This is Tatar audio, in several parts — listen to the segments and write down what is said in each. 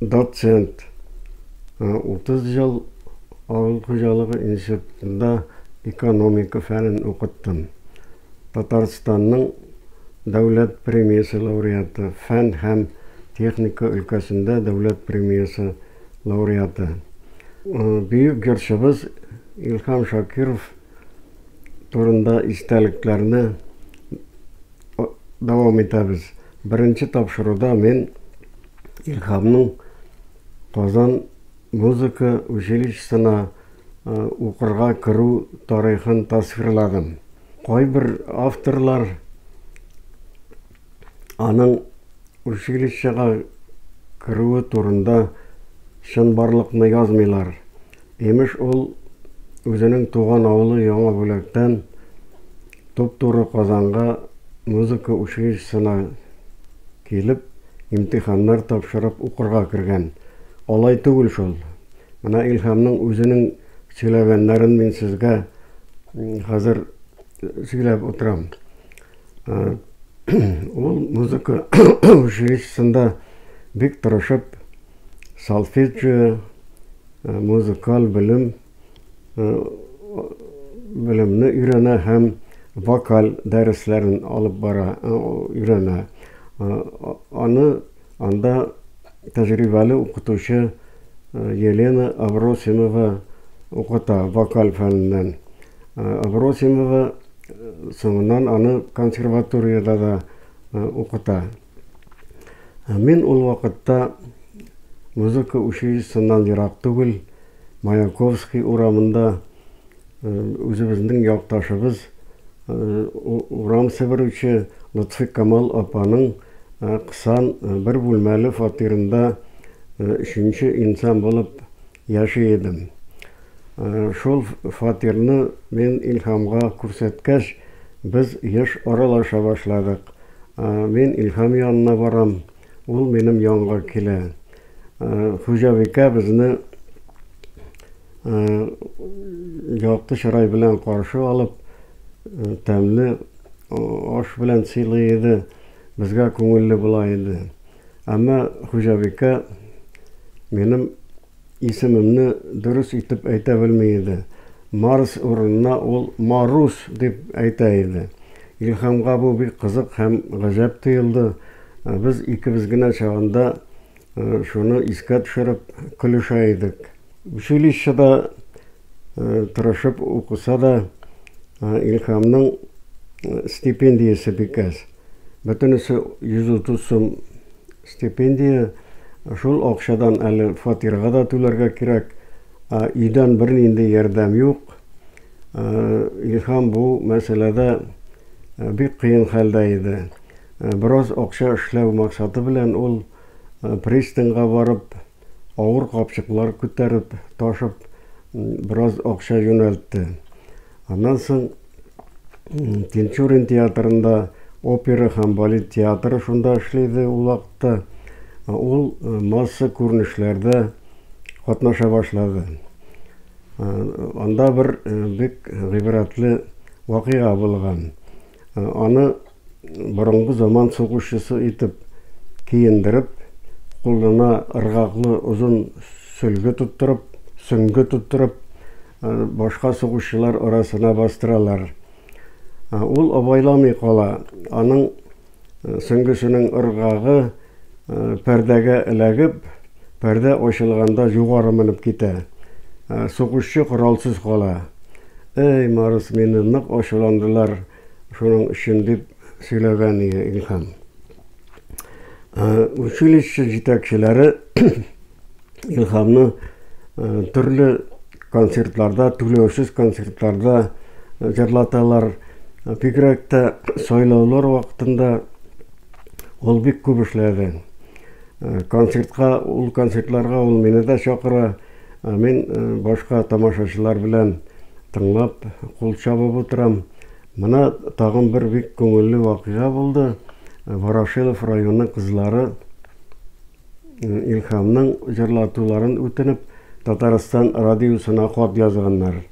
Доцент. 30 ел авыл хуҗалыгы институтында экономика фәнен укыттым. Татарстанның дәүләт премиясе лауреаты, фән һәм техника өлкәсендә дәүләт премиясе лауреаты. Бөек җырчыбыз Илһам Шакиров турында истәлекләрне дәвам итәбез. Беренче тапшыруда мин Илһамның Казан музыка училищесына укырга керү тарихын тасвирладым. Кайбер авторлар аның училищега керүе турында чынбарлыкны язмыйлар. Имеш, ул үзенең туган авылы Яңа Бүләктән туп-туры Казанга музыка училищесына килеп, имтиханнар тапшырып укырга кергән. Алай түгел шул. Менә Илһамның үзенең сөйләгәннәрен мин сезгә хәзер сөйләп утырам. Ул музыка училищесында бик тырышып сальфеджио музыкаль белем белемне өйрәнә һәм вокаль дәресләрен алып бара өйрәнә. Аны Анда тәҗрибәле укытучы Елена Абросимова укыта вокаль фәненнән. Абросимова соңыннан аны консерваториядә дә укыта. Мин ул вакытта музыка училищесыннан ерак түгел, Маянковский урамында үзебезнең якташыбыз, урам себерүче Лотфикамал апаның кысан бер бүлмәле фатирында өченче инсан булып яши идем. Шул фатирны мин Илһамга күрсәткәч, без еш аралаша башладык. Мин Илһам янына барам, ул минем янга килә. Хуҗабикә безне якты чырай белән каршы алып, тәмле аш белән сыйлый иде, безгә күңелле була иде. Әмма хуҗабикә минем исемемне дөрес итеп әйтә белми иде. Марс урынына ул Марус дип әйтә иде. Илһамга бу бик кызык һәм гаҗәп тоелды. Без икебез генә чагында шуны искә төшереп көлешә идек. Училищеда тырышып укыса да, Илһамның стипендиясе бик әз. Бөтенесе 130 сум стипендия. Шул акчадан әле фатирга да түләргә кирәк, ә өйдән бернинди ярдәм юк. Илһам бу мәсьәләдә бик кыен хәлдә иде. Бераз акча эшләү максаты белән ул пристаньга барып, авыр капчыклар күтәреп, ташып, бераз акча юнәлтте. Аннан соң Тинчурин театрында, опера һәм балет театры шунда эшли иде ул вакытта, ул масса күренешләрдә катнаша башлады. Анда бер бик гыйбрәтле вакыйга булган. Аны Борынгы заман сугышчысы итеп киендереп, кулына ыргаклы озын сөлге тоттырып, сөңге тоттырып, башка сугышчылар арасына бастыралар. Ул абайламый кала, аның сөңгесенең ыргагы пәрдәгә эләгеп, пәрдә ачылганда югары менеп китә. Сугышчы коралсыз кала. Эй, Марс, мине нык ачуландылар. Шуның өчен дип сөйләгән иде Илһам. Училище җитәкчеләре Илһамны төрле концертларда, түләүсез концертларда җырлаталар. Бигрәк тә сайлаулар вакытында ул бик күп эшләде. Концертка, ул концертларга ул мине дә чакыра. Мин башка тамашачылар белән тыңлап, кул чабып утырам. Менә тагын бер бик күңелле вакыйга булды. Ворошилов районы кызлары Илһамның җырлатуларын үтенеп, Татарстан радиосына хат язганнар.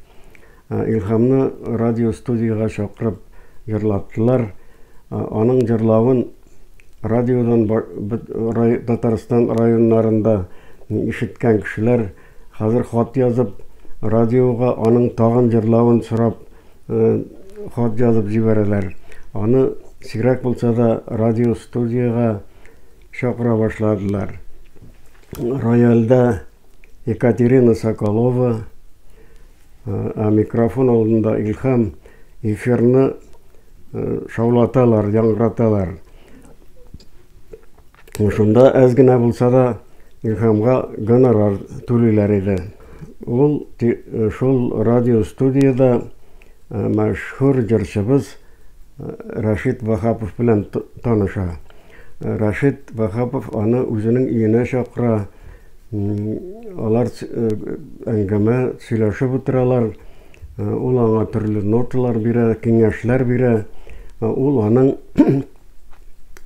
Илһамны радиостудиягә чакырып җырлаттылар. Аның җырлавын радиодан Татарстан районнарында ишеткән кешеләр хәзер хат язып, радиога аның тагын җырлавын сорап хат язып җибәрәләр. Аны сирәк булса да радиостудиягә чакыра башладылар. Рояльдә Екатерина Соколова, Ә микрофон алдында Илһам эфирны шаулаталар, яңгыраталар. Шунда әз генә булса да Илһамга гонорар түлиләр иде. Ул шул радиостудияда мәшһүр җырчыбыз Рашид Вахапов белән таныша. Рашид Вахапов аны үзенең өенә чакыра, Алар әңгәмә, сөйләшеп утыралар. Ул аңа төрле ноталар бирә, киңәшләр бирә. Ул аның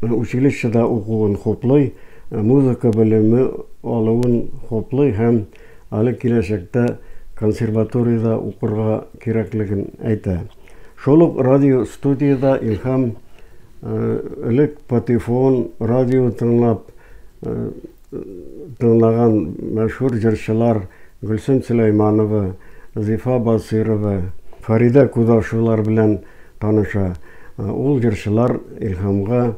училищеда укуын хуплый, музыка белеме алуын хуплый һәм аны киләчәктә консерваториядә укырга кирәклеген әйтә. Шул ук радиостудиядә Илһам элек патефон, радио тыңлап, тыңлаган мәшһүр җырчылар Гөлсем Сөләйманова, Зифа Басыйрова, Фәридә Кудашевалар белән таныша. Ул җырчылар Илһамга,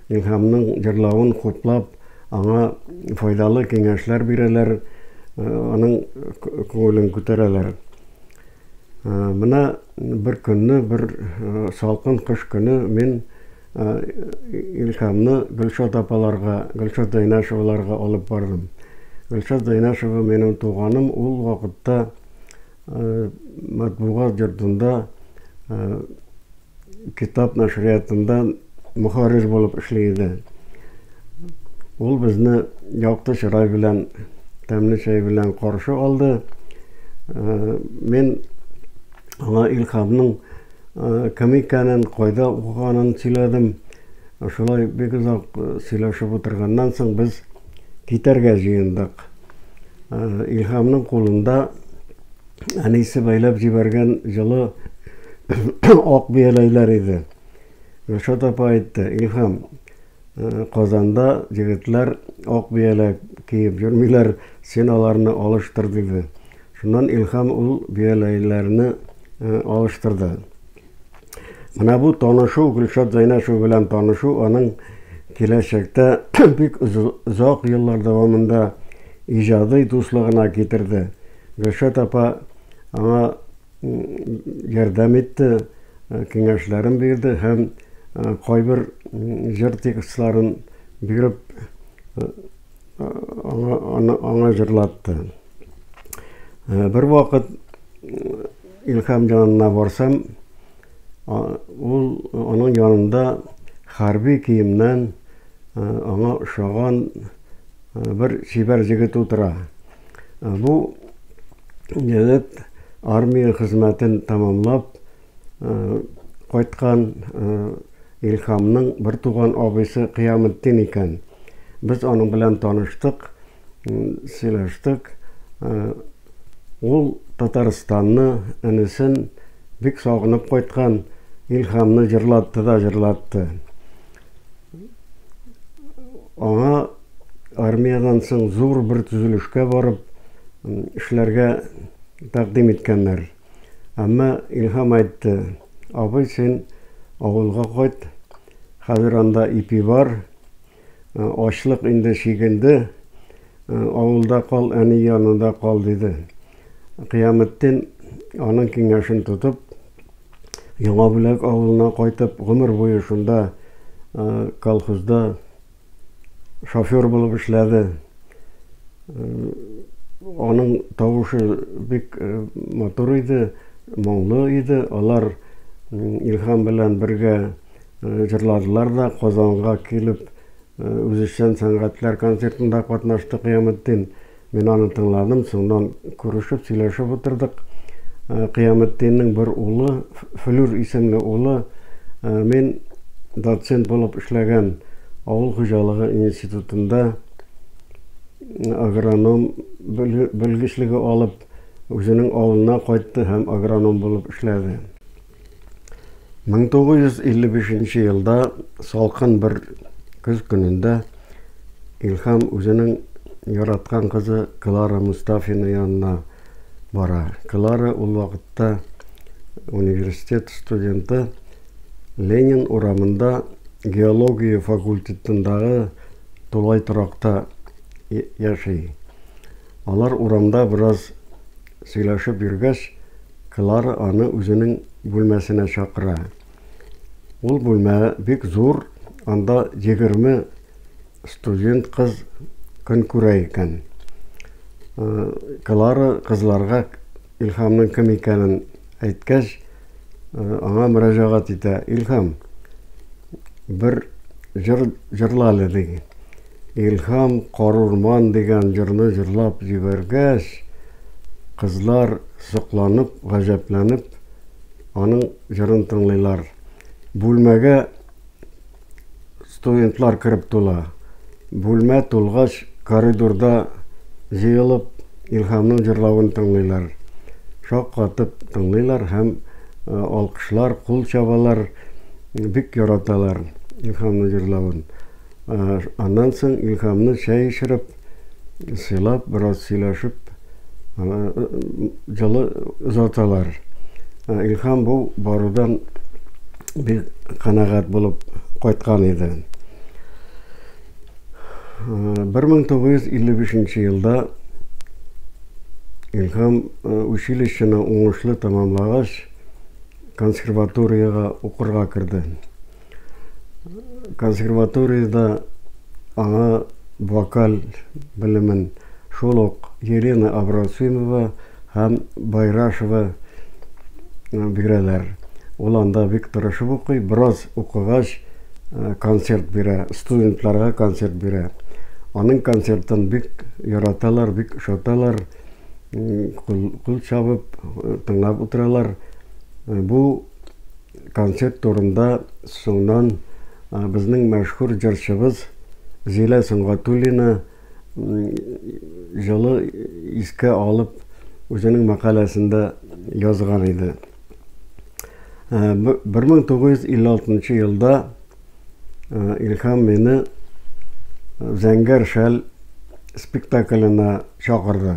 Илһамның җырлавын хуплап, аңа файдалы киңәшләр бирәләр, аның күңелен күтәрәләр. Менә бер көнне, бер салкын кыш көне мин Илһамны Гөлшат апаларга, Гөлшат Дайнашеваларга алып бардым. Гөлшат Дайнашева минем туганым, ул вакытта матбугат йортында китап нәшриятында мөхәррир булып эшли иде. Ул безне якты чырай белән, тәмле чәй белән каршы алды. Мин аңа Илһамның Камиканың кайда укыганын сөйләдем. Шулай бик озак сөйләшеп утырганнан соң, без китәргә җыендык. Илһамның кулында әнисе бәйләп җибәргән җылы ак бияләйләр иде. Гөлшат апа әйтте, Илһам, Казанда егетләр ак бияләк киеп йөрмиләр, син аларны алыштыр, диде. Шуннан Илһам ул бияләйләрне алыштырды. Менә бу танышу, Гөлшат Зәйнәшева белән танышу, аның киләчәктә бик озак еллар дәвамында иҗади дуслыгына китерде. Гөлшат апа аңа ярдәм итте, киңәшләрен бирде һәм кайбер җыр текстларын биреп, аңа җырлатты. Бервакыт Илһам янына барсам, ул аның янында хәрби киемнән аңа ошаган бер чибәр җегет утыра. Бу егет армия хезмәтен тәмамлап кайткан Илхамның бер туган абыйсы Кыяметдин икән. Без аның белән таныштык, сөйләштек. Ул Татарстанны, энесен бик сагынып кайткан Илхамны җырлатты да җырлатты. Аңа армиядән соң зур бер төзелешкә барып эшләргә тәкъдим иткәннәр. Әмма Илһам әйтте, абый, син авылга кайт, хәзер анда ипи бар, ачлык инде чигенде, Авылда кал, әни янында кал, диде. Кыяметдин, аның киңәшен тотып, Яңа Бүләк авылына кайтып, гомер буе шунда колхозда шофер булып эшләде. Аның тавышы бик матур иде, моңлы иде. Алар Илһам белән бергә җырладылар да, Казанга килеп, Үзешчән сәнгатьләр концертында катнашты Кыяметдин. Мин аны тыңладым, соңыннан күрешеп, сөйләшеп утырдык. Кыяметдиннең бер улы, Флүр исемле улы, мин доцент булып эшләгән авыл хуҗалыгы институтында агроном белгечлеге алып, үзенең авылына кайтты һәм агроном булып эшләде. 1955 елда салкын бер көз көнендә Илһам үзенең яраткан кызы Клара Мустафина янына бара. Клара ул вакытта университет студенты Ленин урамында геология факультетындагы тулай торакта яши. Алар урамда бераз сөйләшеп йөргәч, Клара аны үзенең бүлмәсенә чакыра. Ул бүлмә бик зур, анда егерме студент кыз көн күрә икән. Клара кызларга Илһамның кем икәнен әйткәч, аңа мөрәҗәгать итә, Илһам, бер җыр җырла әле, ди. Илһам Карурман дигән җырны җырлап җибәргәч, кызлар сокланып, гаҗәпләнеп аның җырын тыңлыйлар. Бүлмәгә студентлар кереп тула. Бүлмә тулгач, коридорда җыелып Илһамның җырлавын тыңлыйлар. Шаккатып тыңлыйлар һәм алкышлар, кул чабалар, бик яраталар Илһамның җырлавын. Аннан соң Илһамны чәй эчереп, сыйлап, бераз сөйләшеп, җылы озаталар. Илһам бу барудан бик канәгать булып кайткан иде. 1955 елда Илһам училищены уңышлы тәмамлагач, консерваториягә укырга керде. Консерваториядә аңа вокаль белемен шул ук Елена Абросимова һәм Байрашева бирәләр. Ул анда бик тырышып укый, бераз укыгач, концерт бирә, студентларга концерт бирә. Аның концертын бик яраталар, бик ошаталар, кул чабып тыңлап утыралар. Бу. Концерт турында соңнан безнең мәшһүр җырчыбыз Зилә Сөнгатуллина җылы искә алып үзенең мәкаләсендә язган иде. 1956 елда Илһам мине Зәңгәр шәл спектакленә чакырды.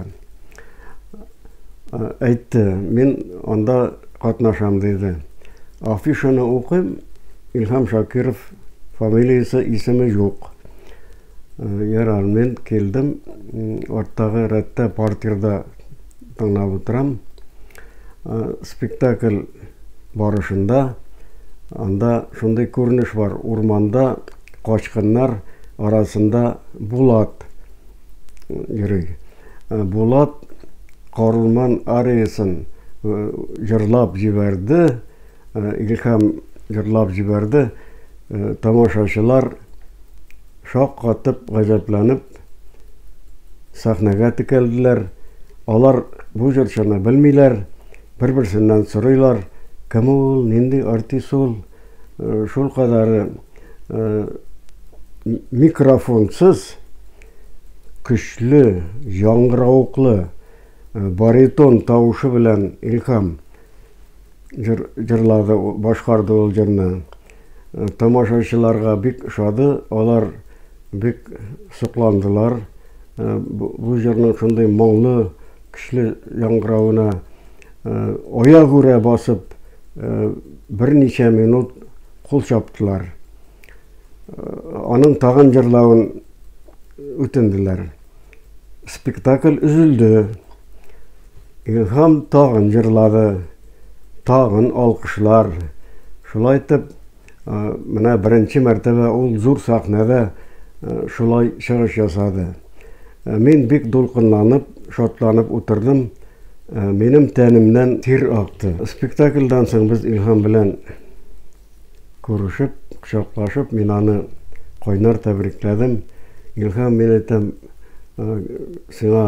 Әйтте, мин анда катнашам диде. Афишаны укыйм, Илһам Шакиров фамилиясе, исеме юк. Ярар, мин килдем. Арттагы рәттә партирда тыңлап утырам. Спектакль барышында анда шундый күренеш бар. Урманда качкыннар арасында Булат йөри. Булат Карурман ариясын җырлап җибәрде, Илһам җырлап җибәрде. Тамашачылар шаккатып, гаҗәпләнеп сәхнәгә текәлделәр. Алар бу җырчыны белмиләр, бер-берсеннән сорыйлар, кем ул, нинди артист ул? Шулкадәре микрофонсыз көчле, яңгыравыклы баритон тавышы белән Илһам Җыр җырлады, башкарды ул җырны. Тамашачыларга бик ошады, алар бик сокландылар. Бу җырның шундый моңлы, көчле яңгыравына аягүрә басып берничә минут кул чаптылар. Аның тагын җырлавын үтенделәр. Спектакль өзелде. Илһам тагын җырлады. Тагын алкышлар. Шулай итеп, менә беренче мәртәбә ул зур сәхнәдә шулай чыгыш ясады. Мин бик дулкынланып, шатланып утырдым. Минем тәнемнән тир акты. Спектакльдан соң без Илһам белән Күрешеп, кочаклашып, мин аны кайнар тәбрикләдем. Илһам, мин әйтәм, сиңа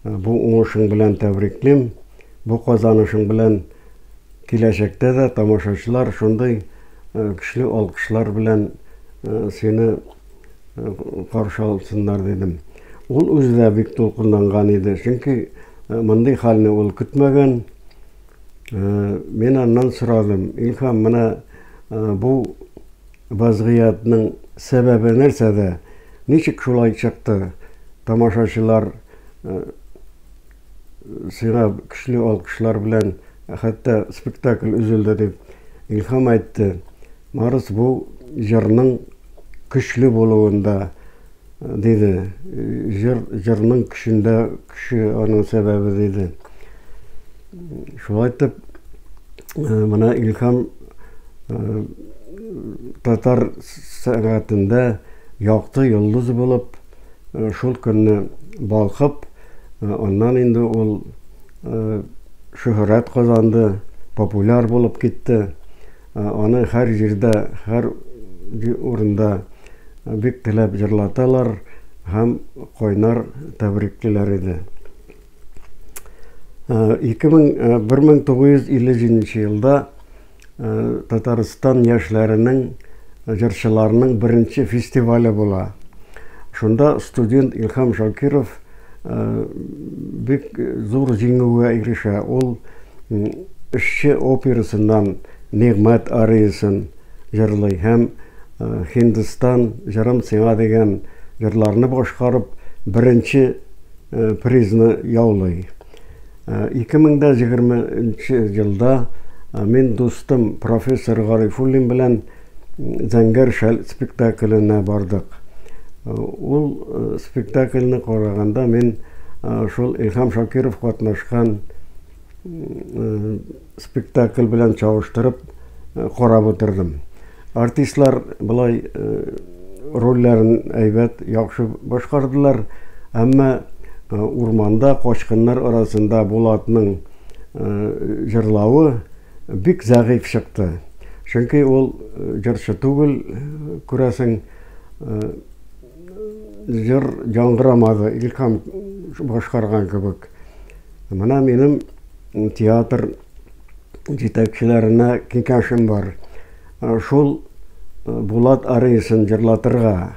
бу уңышың белән тәбриклим. Бу казанышың белән киләчәктә дә тамашачылар шундый көчле алкышлар белән сине каршы алсыннар, дидем. Ул үзе дә бик дулкынланган иде, чөнки мондый хәлне ул көтмәгән. Мин аннан сорадым, Илһам, менә бу вазгыятьнең сәбәбе нәрсәдә? Ничек шулай чыкты? Тамашачылар сиңа көчле алкышлар белән хәтта спектакль өзелде дип. Илһам әйтте, Марс бу җырның көчле булуында, Диде. Җыр, җырның көчендә көче аның сәбәбе, диде. Шулай итеп, менә Илһам татар сәнгатендә якты йолдыз булып, шул көнне балкып, аннан инде ул шөһрәт казанды, популяр булып китте. Аны һәр җирдә, һәр урында бик теләп җырлаталар һәм кайнар тәбриклиләр иде. 1957 елда Татарстан яшьләренең җырчыларының беренче фестивале була. Шунда студент Илһам Шакиров бик зур җиңүгә ирешә. Ул Эшче операсыннан Нигъмәт ариясын җырлый һәм Һиндстан җырым сиңа дигән җырларны башкарып, беренче призны яулый. 2020 елда мин дустым профессор Гарифуллин белән Зәңгәр шәл спектакленә бардык. Ул спектакльне караганда мин шул Илһам Шакиров катнашкан спектакль белән чагыштырып карап утырдым. Артистлар болай рольләрен әйбәт, яхшы башкардылар, әмма урманда качкыннар арасында Булатның җырлавы, Бик зәгыйфь чыкты. Чөнки ул җырчы түгел, күрәсең. Җыр яңгырамады, Илһам башкарган кебек. Менә минем театр җитәкчеләренә киңәшем бар. Шул Булат Арисын җырлатырга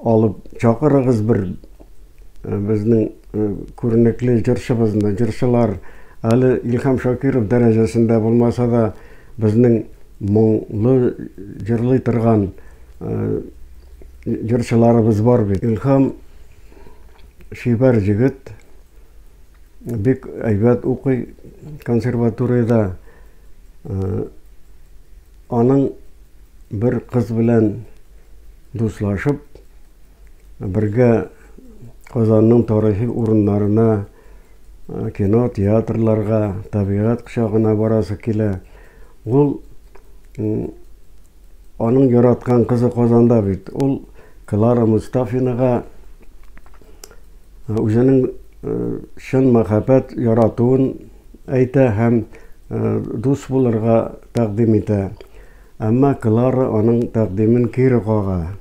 алып чакырыгыз бер. безнең э, күренекле җырчыбызны, җырчылар әле Илһам Шакиров дәрәҗәсендә булмаса да, безнең моңлы җырлый торган э, җырчыларыбыз бар бит. Илһам шибәр җегет, бик әйбәт укый консерваторияда. Э, Аның бер кыз белән дуслашып, бергә Казанның тарихи урыннарына, кино, театрларга, табигать кочагына барасы килә. Ул аның яраткан кызы Казанда бит. Ул Клара Мостафинага үзенең чын мәхәббәт яратуын әйтә һәм дус булырга тәкъдим итә. Әмма Клара аның тәкъдимен кире кага,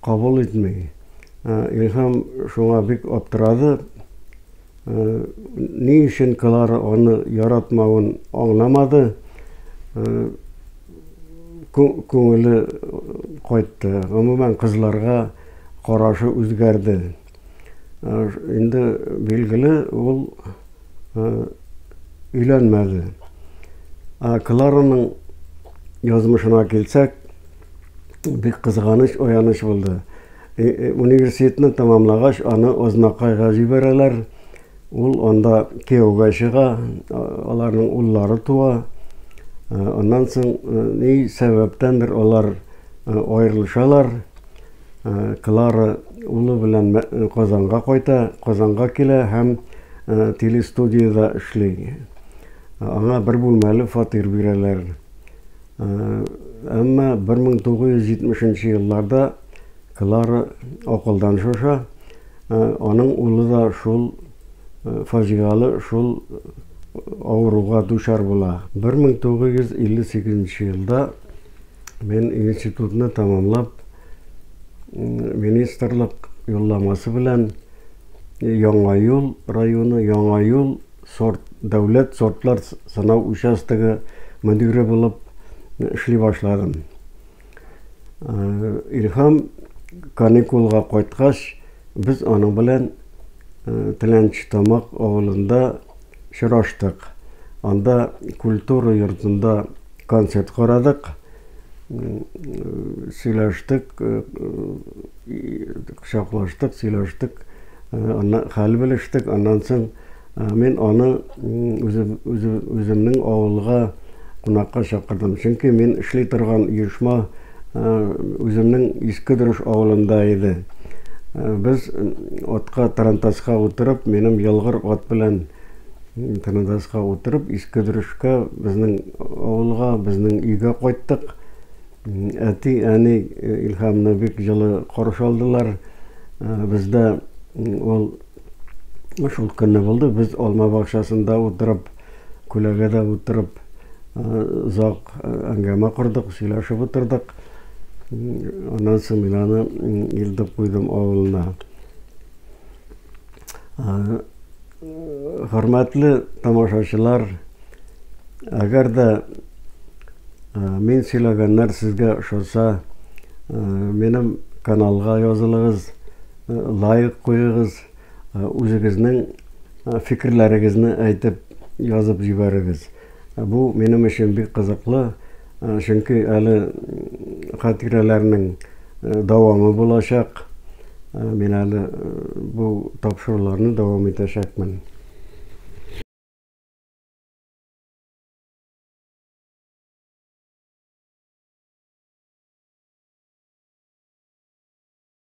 кабул итми. Илһам шуңа бик аптырады. Ни өчен Клара аны яратмавын аңламады. Күңеле кайтты. Гомумән, кызларга карашы үзгәрде. Инде билгеле, ул өйләнмәде. Клараның язмышына килсәк, бик кызганыч, аяныч булды. Университетны тәмамлагач, аны Ознакайга җибәрәләр. Ул анда кияүгә чыга, аларның уллары туа. Аннан соң ни сәбәптәндер алар аерылышалар. Клара улы белән Казанга кайта, Казанга килә һәм телестудиядә эшли. Аңа бер бүлмәле фатир бирәләр. Әмма 1970 нче елларда Клара акылдан шаша, аның улы да шул фаҗигале, шул авыруга дучар була. 1958 нче елда Мин институтны тәмамлап, министрлык юлламасы белән Яңа юл районы Яңа юл сорт дәүләт сортлар сынау участогы мөдире булып эшли башладым. Илһам каникулга кайткач, без аның белән Теләнче Тамак авылында Очраштык. Анда культура йортында концерт карадык. Сөйләштек, кочаклаштык, сөйләштек. Аннан хәл белештек. Аннан соң мин аны үземнең авылга кунакка чакырдым. Чөнки мин эшли торган оешма Үземнең Иске Дөреш авылында иде. Без атка тарантаска утырып, минем ялгыр ат белән тарантаска утырып, Иске Дөрешкә, безнең авылга, безнең өйгә кайттык. Әти, әни Илһамны бик җылы каршы алдылар. Бездә ул Шул көнне булды, без алма бакчасында утырып, күләгәдә утырып, озак әңгәмә кордык, сөйләшеп утырдык. Аннан соң мин аны илтеп куйдым авылына. Хөрмәтле тамашачылар, әгәр дә мин сөйләгәннәр сезгә ошаса, минем каналга язылыгыз. Лайк куегыз, үзегезнең фикерләрегезне әйтеп, язып җибәрегез. Бу минем өчен бик кызыклы, чөнки әле хатирәләрнең дәвамы булачак. Мин әле бу тапшыруларны дәвам итәчәкмен.